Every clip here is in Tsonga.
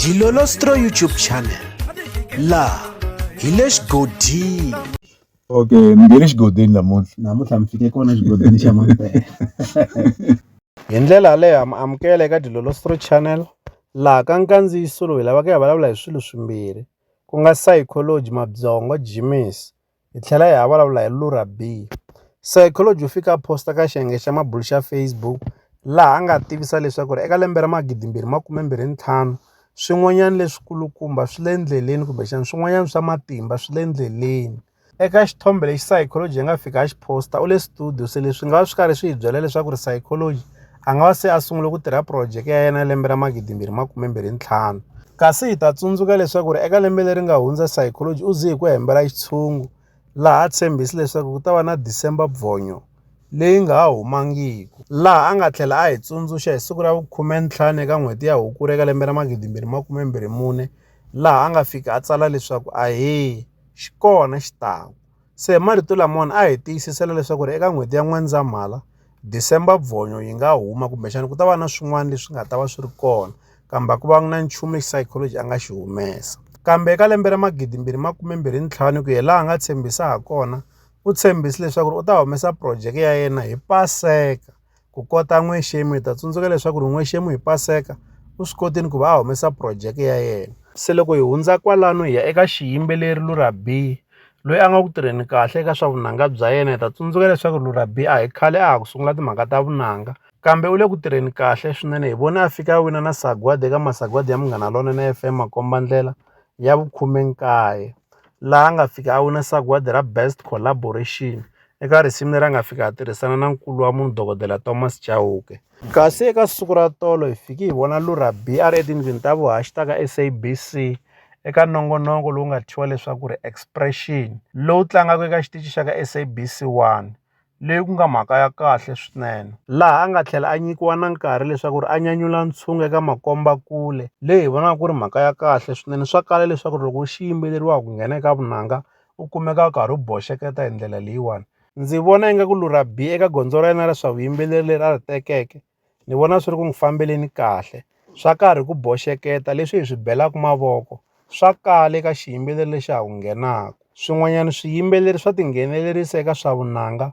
Dilolostro YouTube channel laha hi le xigodini okay ni nge le xigodini namuntlha namuntlha mi fike kona xigodini xa mampela hi ndlela yaleyo ha mi amukela eka dilolostro channel laha ka nkandziyiso lowu hi lavaka ya vulavula hi swilo swimbirhi ku nga psychology mabyongo jimis hi tlhela hi ha vulavula hi Lura Bee, Scientology, u fike a posta ka xiyenge xa mabulo xa Facebook laha a nga tivisa leswaku ri eka lembe ra magidimbirhi makume mbirhi ntlhanu swin'wanyana leswikulukumba swi le endleleni kumbexana swin'wanyana swa matimba swi le endleleni. Eka xithombe lexi Scientology yi nga fika a xi posta u le studio se leswi nga va swi karhi swi hi byela leswaku ri Scientology a nga va se a sungule ku tirha phurojeke ya yena lembe ra magidimbirhi makumembirhi ntlhanu kasi hi ta tsundzuka leswaku ri eka lembe leri nga hundza psychology u ze hi ku hembela xitshungu laha a tshembhisi leswaku ku ta va na december bvonyo leyi nga ha humangiki laha a nga tlhela a hi tsundzuxa hi siku ra vukhume ntlhanu eka n'hweti ya hukuri eka lembe ra magidimbirhi makumembirhi mune laha a nga fika a tsala leswaku ahee xi kona xi taku Se hi marito lamona a hi tiyisisela leswaku ri eka n'hweti ya N'wendzamhala, December Bvonyo yi nga huma kumbexana ku ta va na swin'wana leswi nga ta va swi ri kona kambe a ku vanga na nchumu lexi psychology a nga xi humesa. Kambe eka lembe ra 2025 ku ya laha a nga tshembisa ha kona, u tshembise leswaku ri u ta humesa projeke ya yena hi Paseka. Ku kota n'wexemu hi ta tsundzuka leswaku ri n'wexemu hi Paseka u swi kotile ku va a humesa phurojeke ya yena. Se loko hi hundza kwalano hi ya eka xiyimbeleri Lurabi loyi a nga ku tirheni kahle eka swa vunanga bya yena hi ta tsundzuka leswaku Lurabi a hi khale a ha ku sungula timhaka ta vunanga kambe u le ku tirheni kahle swinene hi vone a fika a wina na sagwadi eka masagwadi ya Munghana Lonene FM makombandlela ya vukhumenkaye laha a nga fika a wina sagwadi ra best collaboration. Eka risimu leri a nga fika a tirhisana na nkulu wa munhu dokodela Thomas Chauke. Kasi eka siku ra tolo hi fiki hi vona Lura B a ri etindlwini ta vuhaxi ta ka SABC eka nongonoko lowu nga thyiwa leswaku ri Expression lowu tlangaka eka xitichi xa ka SABC 1 leyi ku nga mhaka ya kahle swinene laha a nga tlhela a nyikiwa na nkarhi leswaku ri a nyanyula ntshungu eka makombakule leyi hi vonaka ku ri mhaka ya kahle swinene swa kala leswaku ri loko xi yimbeleriwaka ku nghena eka vunanga u kumeka u karhi u boxeketa hi ndlela leyiwani ndzi vona ingaku lurha bi eka gondzo ra yena ra swa vuyimbeleri leri a ri tekeke ni vona swi ri ku n'wi fambeleni kahle swa karhi ku boxeketa leswi hi swi belaka mavoko swa kala eka xiyimbeleri lexi ha ku nghenaka swin'wanyana swiyimbeleri swa tinghenelerisa eka swa vunanga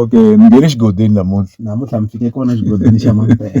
Okay ni nge le xigodweni namuntlha namuntlha ni fike kona xigodlweni xa mampela.